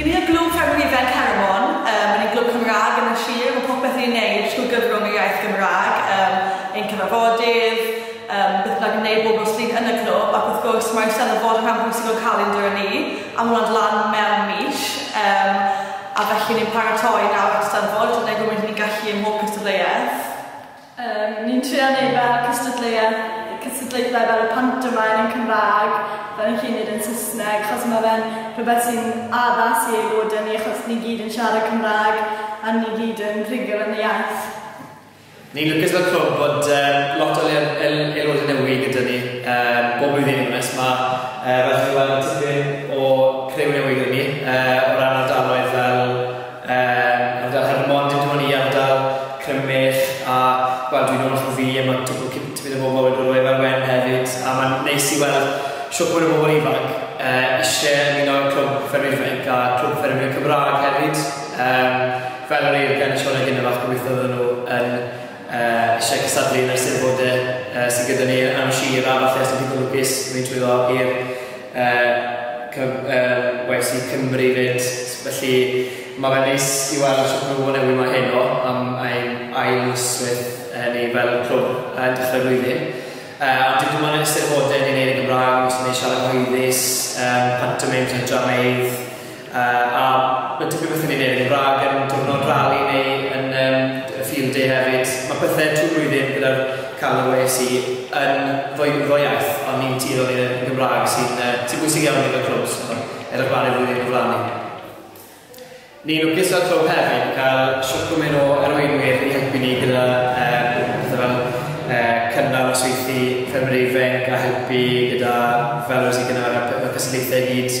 Y ni yw'r Glwb Fferm Hufen Herwmon, yym, yr un glwb Cymraeg yn y sir, mae popeth ni'n neud trwy gyfrwng yr iaith Gymraeg, yym, ein cyfarfodydd, yym, beth bynnag ni'n neud bob nos Lun yn y clwb, ac wrth gwrs mae'r Eisteddfod yn rhan bwysig o'n calendr ni, a mae hwnna'n lan mewn mis, yym, a felly ni'n paratoi nawr at Steddfod, wneud rhywun ni'n gallu ym mhob cystadleuaeth. Yym, ni'n trio neud fel y cystadleuaeth, y cystadlaethau fel y pantomaim yn Cymraeg, fel ni'n gallu neud yn Saesneg, achos ma' fe'n rhywbeth sy'n addas i aelodau ni, achos ni gyd yn siarad Cymraeg, a ni gyd yn rhugl yn y iaith. Ni'n lwcus fel clwb fod yym lot o le- el- aelodau newy' gyda ni yym bob blwyddyn i fod yn onest, ma' yy fel chi'n gallu weld ma' tipyn o criw newydd gyda ni yy o ran ardaloedd fel Yn ogystal, heb ddim ond dim ond i ardal Crymych a wel dwi'n holl o fi a mae twpl cyn tipyn o bobl wedi bod o Efa'r Wen hefyd a mae'n neis i weld shwt mwy o bobl ifanc yy isie ymuno â'r Clwb Ffermwyr Ifainc a Clwb Ffermwyr Cymraeg hefyd yym fel yr oedd Glenn yn sôn ar hyn o bryd gobeithio fydden nhw yn yy isie cystadlu yn yr Eisteddfode yy sydd gyda ni yn Nant Llŷr a falle os ydych chi'n lwcus mynd trwyddo i'r Yy wnes i Cymru 'fyd, felly mae fe'n neis i weld shwt mae pobl newydd 'ma heno am ein ail misoedd ni fel clwb yn dechrau'r flwyddyn. Yy a dwi 'di bod yn Eisteddfodau ni'n neud yn Gymraeg, wastad yn neud siarad cyhoeddus, yym pantomeim, drameydd, Yy a ma' tipyn bach yn ei wneud yn Gymraeg yn diwrnod rali neu yn yym y field day hefyd. Ma' pethe trwy flwyddyn gyda'r calon weles i yn ddwy ddwy iaith ond ni'n tueddu i neud yn Gymraeg sy'n yy sy'n bwysig iawn i ni fel clwb so ma' edrych mlan i'r flwyddyn gyflanu. Ni'n lwcus fel clwb hefyd yn cael shwt gwmyn o arweinwyr i helpu ni gyda yy pethe fel yy cynnal nosweithi ffermyr ifainc a helpu gyda fel weles i gynnal y p- y cystadlaethau i gyd.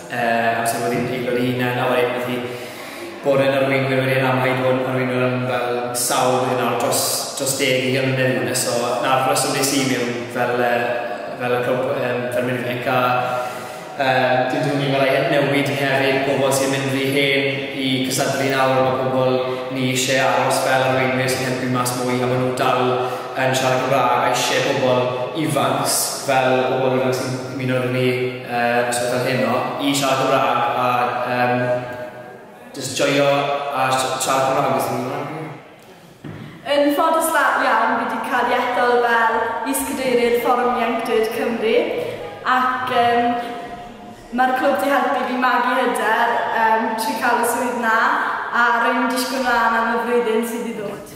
Uh, amser wedi pig o'r un yna wedi beth i bod yn arweinwyr wedi rhan wedi bod yn arweinwyr am fel sawl wedi nawr dros, dros deg i gymryd yn hynny. So, na'r rheswm nes i mewn fel, uh, fel y clwb um, fel mynd i ca um, dwi'n dwi'n ni'n gorau newid hefyd pobl sy'n mynd rhy hen i cysadlu nawr o pobl ni eisiau aros fel arweinwyr sy'n helpu mas mwy a maen nhw'n dal yn siarad Cymraeg a eisiau pobl ifanc fel pobl ifanc sy'n mynd o'r ni Yy stwff fel heno i siarad Cymraeg a yym jyst joio a si- siarad Cymraeg os ti'n gwbo'? Yn ffodus la- iawn fi 'di cael ei ethol fel is-cadeirydd Fforwm Ieuenctid Cymru ac yym ma'r clwb 'di helpu fi magu hyder yym trwy cael y swydd 'na a rwy'n disgwyl mlan am y flwyddyn sydd i ddod.